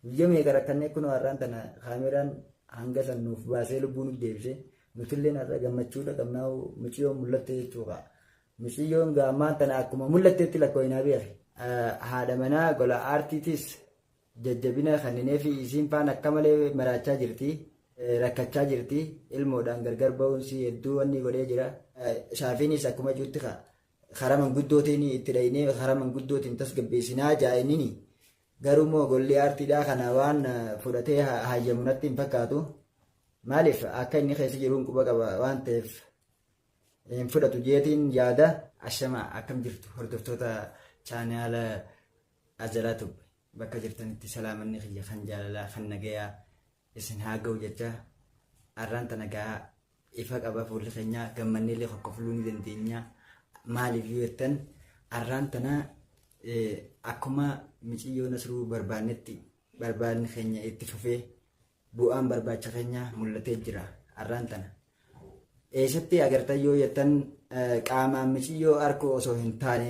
Guyyaa meeqa rakkannee kunoo har'aan tana kaameraan hanga san nuuf baasee lubbuu nuuf deebisee nutilleen har'a gammachuudha qabnaa muciyyoon mul'atte jechuudha. Muciyyoon gaammaan tana akkuma mul'atteetti lakkooyinaa beeku. Haadha manaa gola aartiitis jajjabina kenninee fi isiin faan akka malee maraachaa jirti. Rakkachaa jirti. Ilmoodhaan gargar ba'uunsi hedduu wanni godhee jira. Shaafiinis akkuma jirti karaa manguddootiin itti dhahinee karaa manguddootiin tasgabbeessinaa jaa'inini. Garuu immoo golli aartiidhaa kana waan fudhatee hayyamu natti hin fakkaatu. Maaliif akka inni keessa jiruun quba qaba waan ta'eef hin fudhatu jeetiin yaada. Ashama akkam jirtu hordoftoota chaanaala Ajalaa Tube bakka jirtanitti salaamanni kiyya kan jaalalaa kan nagayaa isin haa ga'u jecha arraan tana gahaa ifa qaba fuulli keenyaa gammannee illee kokkofluu ni dandeenya maaliif yoo jettan arraan tana akkuma miciyyoo nasruu barbaannetti barbaanni keenya itti fufee bu'aan barbaacha keenya mul'atee jira arraan tana. Eessatti agartan yoo jettan qaamaan miciyyoo arkuu osoo hin taane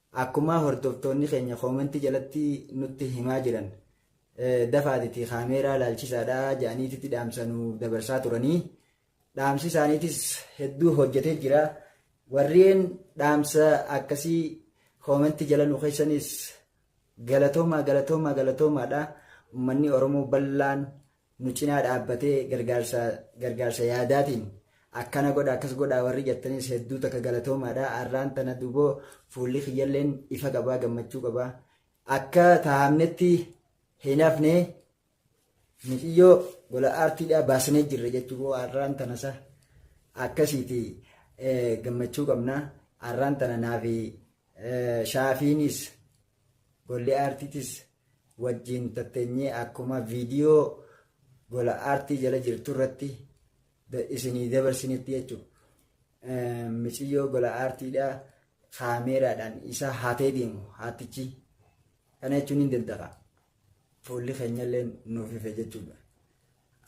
Akkumaa hordoftoonni keenya comment jalatti nutti himaa jiran dafaatiti kaameeraa laalchisaadha jedhaniititi dhaamsa nu dabarsaa turanii dhaamsi isaaniitis hedduu hojjetee jira warreen dhaamsa akkasii comment jala nu keessanis galatoomaa galatoomaa galatoomaadha ummanni oromoo bal'aan nu cinaa dhaabbatee gargaarsa gargaarsa yaadaatiin akkana godha akkas godhaa warri jettanis hedduu takka galatoomaadha arraan tana duboo fuulli kiyyalleen ifa qabaa gammachuu qabaa akka taa'amnetti hin hafne miciyyoo gola aartiidhaa baasnee jirra jechuun arraan tanasa akkasiiti gammachuu qabna arraan tana naafi shaafiinis Golli aartiitis wajjiin tatteenyee akkuma viidiyoo gola aartii jala jirtu irratti isinii dabarsinitti jechuudha. Miciyyoo gola aartiidhaa kaameeraadhaan isa hatee deemu haatichi kana jechuun ni danda'a. Fuulli keenyallee nuuf ife jechuudha.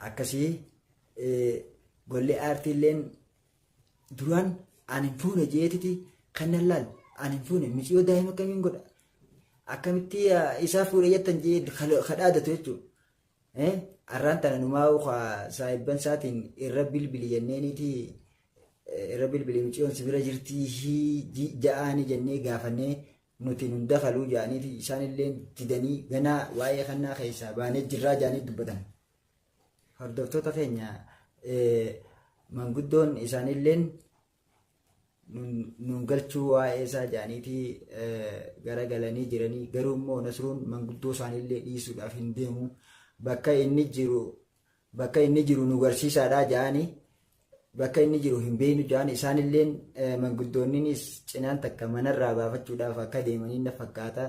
Akkasii golli aartiilleen Duraan ani hin fuune jeetiti kan nan laal ani hin fuune miciyoo daa'ima kamiin godha akkamitti isaa fuudhe jettan jee kadhaadatu jechuudha. Arraan tana numaa saahibban isaatiin irra bilbili jenneeniiti irra bilbili miciyoon si bira jirtii ja'aani jennee gaafannee nuti nun dakaluu ja'aniiti isaan illee didanii ganaa waa'ee kannaa keessaa baanee jirraa ja'anii dubbatan. Hordoftoota keenya manguddoon isaaniilleen nuun galchuu waa'ee isaa jedhaniitii garagalanii jiranii garuu immoo Nasruun manguddoo isaaniillee dhiisuudhaaf hin deemu bakka inni jiru bakka inni jiru nu garsiisaadhaa jedhanii bakka inni jiru hin beeknu jedhan isaanilleen manguddoonninis cinaan takka manarraa baafachuudhaaf akka deemanii na fakkaata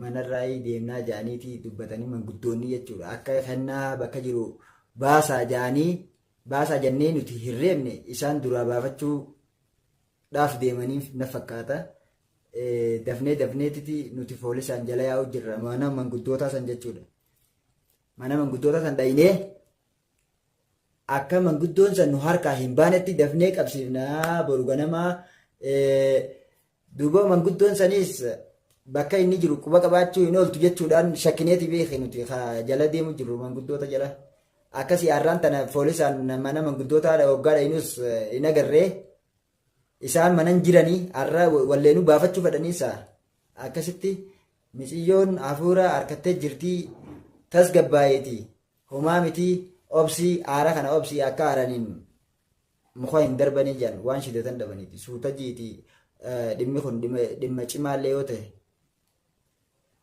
manarraayii deemnaa ja'aniiti dubbatanii manguddoonni jechuudha. Akka kennaa bakka jiru baasaa ja'anii baasaa jannee nuti hin reebne isaan duraa baafachuu dhaaf deemaniif na fakkaata. Dafnee dafneetiti nuti foolisaan jala yaa'u jirra mana manguddootaa san jechuudha. Mana manguddootaa san dhaynee akka manguddoon san nu harkaa hin baanetti dafnee qabsiifnaa boru ganamaa Duuba manguddoon saniis bakka inni jiru quba qabaachuu hin ooltu jechuudhaan shakkineeti beekee nuti ka jala deemu jirru manguddoota jala. Akkasii har'aan tana poolisaan mana manguddootaa hoggaa dhaynus hin agarree isaan manan jiranii har'a walleenuu baafachuu fedhaniisa. Akkasitti miciyyoon hafuura harkattee jirtii tasgabbaayeeti. Homaa mitii obsii aara kana obsii akka aaraniin muka hin darbanii jedhan waan shidatan dhabaniiti suuta jiiti dhimmi kun dhimma cimaallee yoo ta'e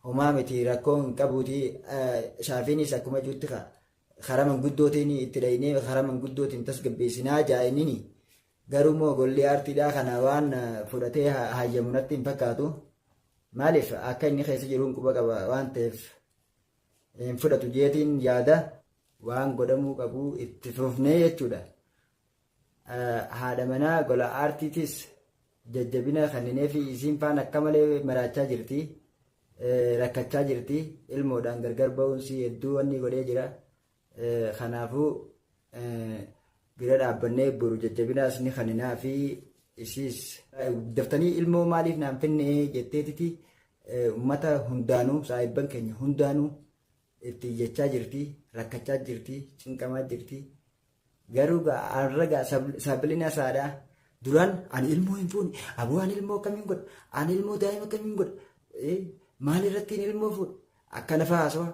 homaa miti rakkoo hin qabuuti shaafiinis akkuma juutti karaa manguddootiin itti dhahinee karaa manguddootiin tasgabbeessinaa jaa'inini garuu immoo golli aartiidhaa kana waan fudhatee hayyamu natti hin fakkaatu maaliif akka inni keessa jiruun quba qaba waan ta'eef hin fudhatu jeetiin yaada waan godhamuu qabu itti fufnee jechuudha. Haadha manaa gola aartiitis jajjabina kenninee fi isiin faan akka malee maraachaa jirti. Rakkachaa jirti. Ilmoodhaan gargar ba'uunsi hedduu wanni godhee jira. Kanaafuu bira dhaabbannee boru jajjabinaas ni kaninaa fi isiis daftanii ilmoo maaliif naan finnee jetteetiti uummata hundaanuu saahibban keenya hundaanuu itti iyyachaa jirti rakkachaa jirti cinqamaa jirti garuu arragaa sabilina saadhaa duraan ani ilmoo hin fuune aboo ani ilmoo akkamiin godha ani ilmoo daa'ima akkamiin godha maal irrattiin ilmoo fuudha akkana fa'aa haasawaa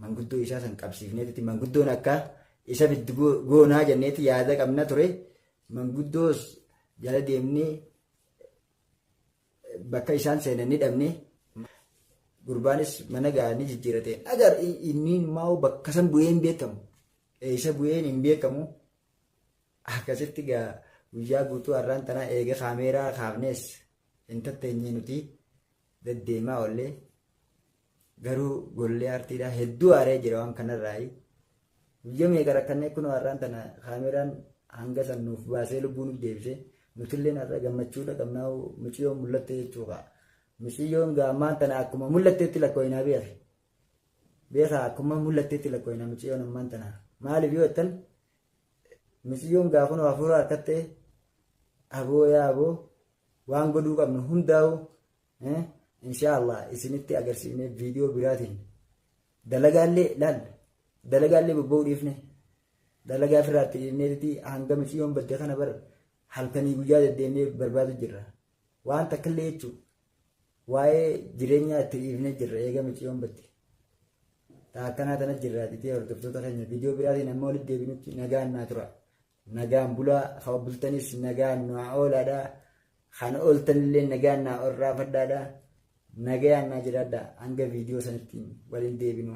Manguddoo isaa san qabsiifneeti manguddoon akka isa fiddu goonaa jenneeti yaada qabna ture. Manguddoos jala deemnee bakka isaan seenan ni dhabne. Gurbaanis mana ga'anii jijjiirate. Agar inni immoo bakka san bu'ee hin beekamu. Eessa bu'een hin beekamu. Akkasitti gaa guyyaa guutuu har'aan tanaa eega kaameeraa kaafnees hin tatteenye nuti deddeemaa ollee Garuu golli aartiidhaa hedduu aaree jira waan kanarraayi. Guyyaa meeqa rakkannee kunoo har'aan tana kaameraan hanga san nuuf baasee lubbuu nuuf deebisee nutilleen har'a gammachuudha qabnaa muciyyoon mul'atte jechuudha. Muciyyoon ammaan tana akkuma mul'atteetti lakkoofnaa beeku. Beekaa akkuma mul'atteetti lakkoofnaa muciyyoon ammaan tana. Maaliif yoo jettan muciyyoon gaafuma hafuura harkattee aboo yaa aboo waan godhuu qabnu hundaa'u inshaa Allah isinitti agarsiifnee viidiyoo biraatiin dalagaallee laal dalagaallee bobba'uu dhiifne dalagaa firaatti dhiifneeti hanga miciyoon badde kana bar halkanii guyyaa deddeemnee barbaadu jirra waan takkillee jechuun waa'ee jireenyaa itti dhiifnee jirra eega miciyoon badde taa akkanaa tana jirra dhitee hordoftoota keenya viidiyoo biraatiin amma walitti deebinutti nagaan naa tura Nagaan bulaa kama bultanis nagaan naa oolaadha. Kan ooltanillee nagaan naa orraafadhaadha. Nagayaan naa jiraadha hanga viidiyoo sanatti waliin deebinu.